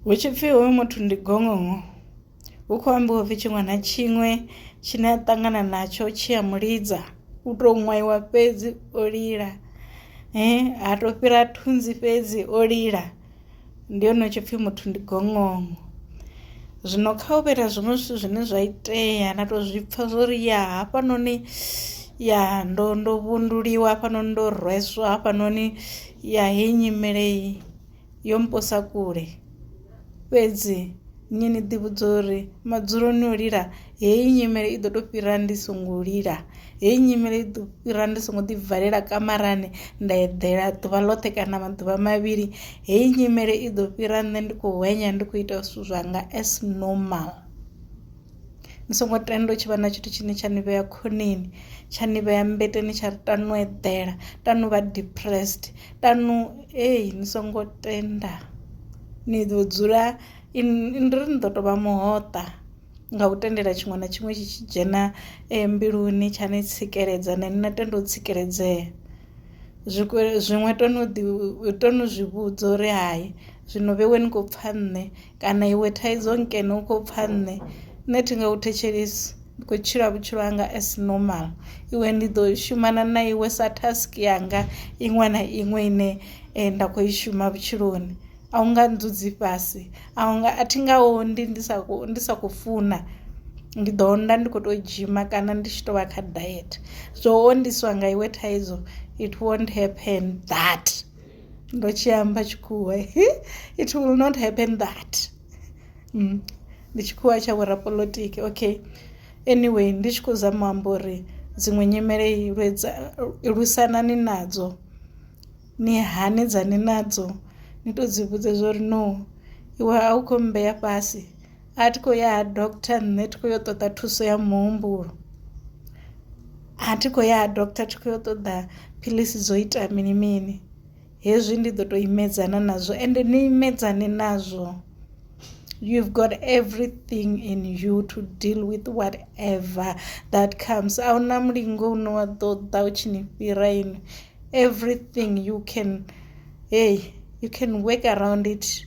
hu tshi pfhi hoyu muthu ndi gongongo hu khou ambiwa upfhi tshiṅwe na tshiṅwe tshine a ṱangana natsho tshi a mu lidza u to ṅwaiwa fhedzi o lila ha to fhira thunzi fhedzi o lila ndi hone hu tshi pfhi muthu ndi gongongo zwino kha u vhera zwiṅwe zwithu zwine zwa itea na to zwi pfha zwo ri ya hafhanoni ya ndo ndo vhunduliwa hafhanoni ndo rweswa hafhanoni ya heyi nyimele iyi. yo mposa kule fhedzi nṋe ni ḓivhudza uri madzuloni o lila heyi nyimele i ḓo to fhira ndi songo lila heyi nyimele i ḓo fhira ndi songo ḓi valela kamarani nda eḓela ḓuvha ḽoṱhe kana maḓuvha mavhili heyi nyimele i ḓo fhira nṋe ndi kho hwenya ndi kho ita zwithu zwanga as normal. ni songo tenda u tshi vha na tshithu tshine tsha ni vhea khoneni tsha ni vhea mmbeteni tsha ri tanu eḓela tanu vha depressed tanu ei ni songo tenda ni ḓo dzula ndi ri ni ḓo tovha muhoṱa nga u tendela tshiṅwe na tshiṅwe tshi tshi dzhena mbiluni tsha ni tsikeledza na ine na tenda u tsikeledzea zwi zwiṅwe toni ḓi toni u zwi vhudza uri hai zwino vhe we ni khou pfha nṋe. Kana iwe thaidzo nkene u khou pfa nṋe, nṋe thi nga u thetshelesi, ndi khou tshila vhutshilo hanga as normal. Iwe ndi ḓo shumana na iwe sa task yanga iṅwe na iṅwe ine nda khou i shuma vhutshiloni a u nga ndzudzi fhasi a u nga a thi nga ondi ndi sa khou ndi sa khou funa ndi ḓo onda ndi kho to dzhima kana ndi tshi to vha kha diet zwo ondiswa nga iwe thaidzo it won't happen that. ndo tshi amba tshikhuwa it will not happen that mm. ndi tshikhuwa tsha vhorapolotiki okay anyway ndi tshi khou zama amba uri dziṅwe nyimele lwisanani nadzo ni hanedzani nadzo ni to dzi vhudze zwa uri no iwe a u khou mmbeya fhasi a thi khou ya ha doctor nṋe thi khou ya u ṱoḓa thuso ya muhumbulo a thi khou ya ha doctor thi khou ya u ṱoḓa phiḽisi dzo ita mini mini hezwi ndi ḓo to imedzana nazwo ende ni imedzane nazwo you've got everything in you to deal with what ever that comes ahuna mulingo une wa ḓo ḓa u tshi ni fhira inwi everything you can hey you can work around it.